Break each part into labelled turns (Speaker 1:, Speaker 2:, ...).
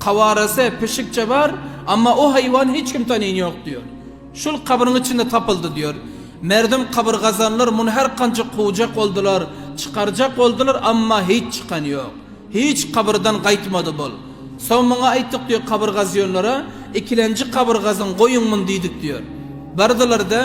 Speaker 1: Kawarasa pişikçe bar, amma o haýwany hiç kim tanyn ýok diýýär. Şul kabryň içinde tapyldy diýýär. Merdim kabyrgazanlar muny her kança kowjak boldular, çykarjak boldular, amma hiç çykan ýok. Hiç kabyrdan gaýtmady bol. Soň muňa aýtdyk diýýär kabyrgazýonlara, ikilenji kabyr gazyň goýuň muny diýdik diýýär. Bardylar-da,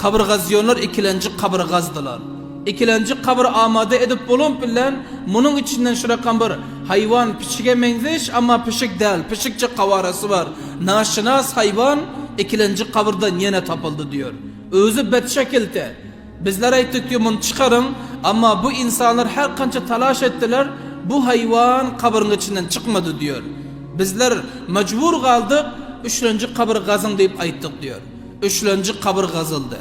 Speaker 1: kabyr gazýonlar ikilenji kabyr gazdylar. Ikilenji kabyr amada edip bolump billen, munuň içinden şurakam bir haýwan pişige meňzeýiş amma pişik däl, pişikçe kawarasy bar, naşynas haýwan ikilenji kabyrdan ýene tapyldy diýer. Özi bet şekilte. Bizler aýtdyk diýer muny çykaryň, amma bu insanlar her kança talaş etdiler, bu haýwan kabyryň içinden çykmady diýer. Bizler majbur galdyk, üçlenji kabyr gazyň diýip aýtdyk diýer. Üçlenji kabyr gazyldy.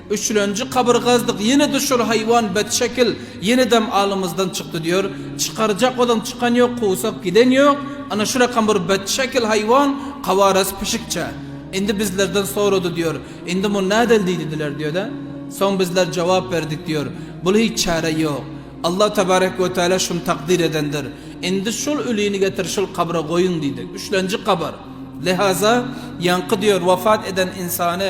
Speaker 1: Üçlenji kabyrgazdyk ýene-de şol haýwan bet şekil ýenedem alymyzdan çykdy diýer çykarjak ozam çykan ýok kowsak giden ýok ana şu rakam bir bet şekil haýwan kawarasy pişikçe indi bizlerden sorady diýer indi mun nädel diýdidiler diýöde soň bizler jogap berdik diýer bul hiç çäre ýok Allah tebarek we teala şuny takdyr edendir indi şul ölini getir şul kabra goýuň diýdi üçlenji kabyr lehaza ýaňky diýer wafat eden insany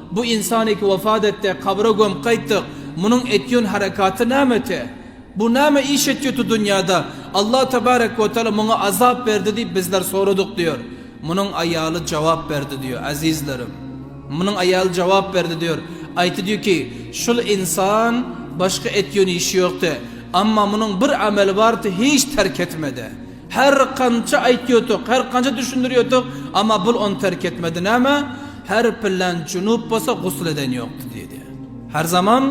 Speaker 1: Bu insan eki wafat etde kabra gömüp gaýtdyk munuň etýön harakaty name te bu name iş etýo tu dunýada Allah tebarek we taala muňa azap berdi diýip bizler soradyk diýor munuň aýaly jawap berdi diýo azizlerim munuň aýaly jawap berdi diýor aýty diýo ki şul insan başga etýön işi ýok te amma munuň bir ameli bar te hiç terk etmede. Her kança aýtýotuk, her kança düşündirýotuk, ama bul ony terk etmedi, näme, her pilän junup bolsa gusl eden ýokdy diýdi. Her zaman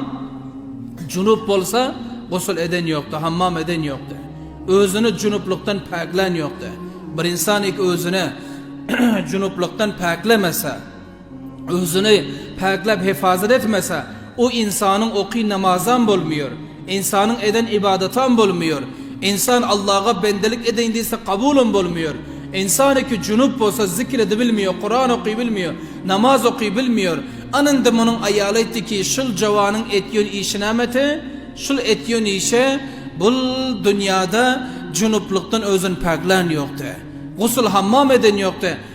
Speaker 1: junup bolsa gusl eden ýokdy, hammam eden ýokdy. Özüni junuplykdan päklän ýokdy. Bir insan iki özüni junuplykdan päklemese, özüni päkläp hefazyt etmese, o ynsanyň okyn namazam bolmaýar, ynsanyň eden ybadatam bolmaýar, ynsan Allaga bendelik edeýin diýse kabulam bolmaýar, ynsan eki junup bolsa zikir edibilmeýär, Kuran okybilmeýär, namaz okybilmeýär. Ana indi munuň aýaly aýtdy ki, şul jowanyň etýän işi nämeti? Şul etýän işi bul dünýada junuplykdan özüni päklän ýokdy, gusul-hammam eden ýokdy.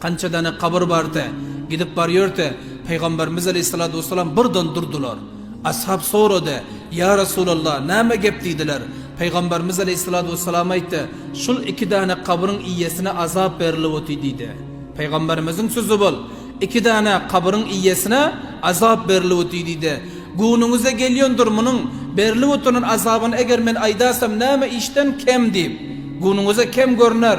Speaker 1: Kança dana kabyr bartä, gidip barýörtä, Pygamberimiz aleýhissalatu wessalam birden durdular. Ashab sorady, Ýa Resulallah, näme gep diýdiler. Pygamberimiz aleýhissalatu wessalam aýtdy, Şul iki dana kabyryň iýesine azap berilip oty diýdi. Pygamberimiziň sözi bul, Iki dana kabyryň iýesine azap berilip oty diýdi. Göwnüňize gelýändir munuň berilip oturan azabyny eger men aýdasam näme işden kem diýip, göwnüňize kem görner.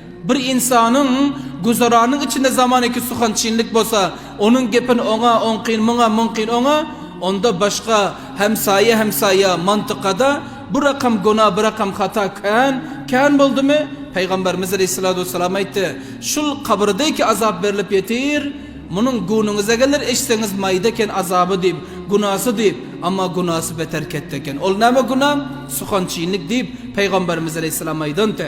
Speaker 1: Bir ynsanyň güzeranyň içinde zaman iki suhan çinlik bolsa, onuň gepin oňa, oňkyn muňa, muňkyn oňa, onda başga, hemsaýa hemsaýa, mantykada, bu rakam gona, bu rakam hata kän, kän boldumy, Pygamberimiz aleýhissalatu wessalam aýtdy, Şul kabyrda iki azap berilip ýetir, munuň göwnüňize geler eşitseňiz maýda eken azaby diýip, günasy diýip, amma günasy beter ketti eken. Ol näme güna? Suhan çinlik diýip, Pygamberimiz aleýhissalam aýdanty.